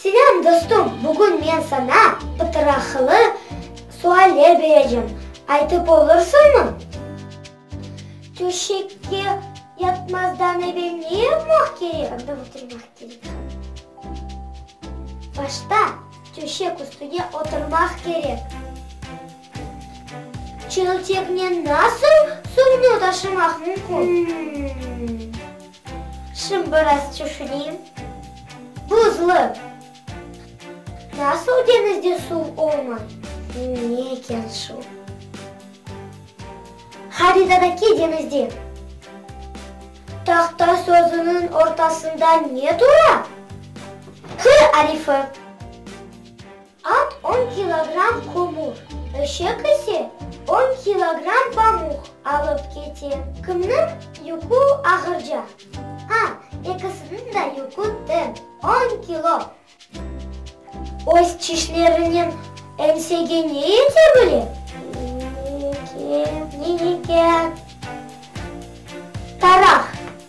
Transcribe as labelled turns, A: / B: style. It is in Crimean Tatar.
A: Selâm dostum, bugün men saña pıtıraqlı sualler berecem, aytıp olursıñmı? Töşekte yatmazdan evel ne yapmaq kerek? Qanda oturmaq kerek? Başta töşek üstüne oturmaq kerek. Çelteknen nasıl suvnı taşımaq mümkün? Şim biraz tüşünim. Buzlı. Nasıl deñizde suv olmay? Ne eken şu? Haritadaki deñizde tahta sözüniñ ortasında ne tura? Q arifi. At on kilogramm kömür, eşek ise on kilogramm pamuq alıp kete. Kimniñ yükü ağırca? A, Ekisiniñ de yükü teñ, on kilo. Öz çişlerinen eñsege ne yete bile? Yeke. Ne yeke? Taraq.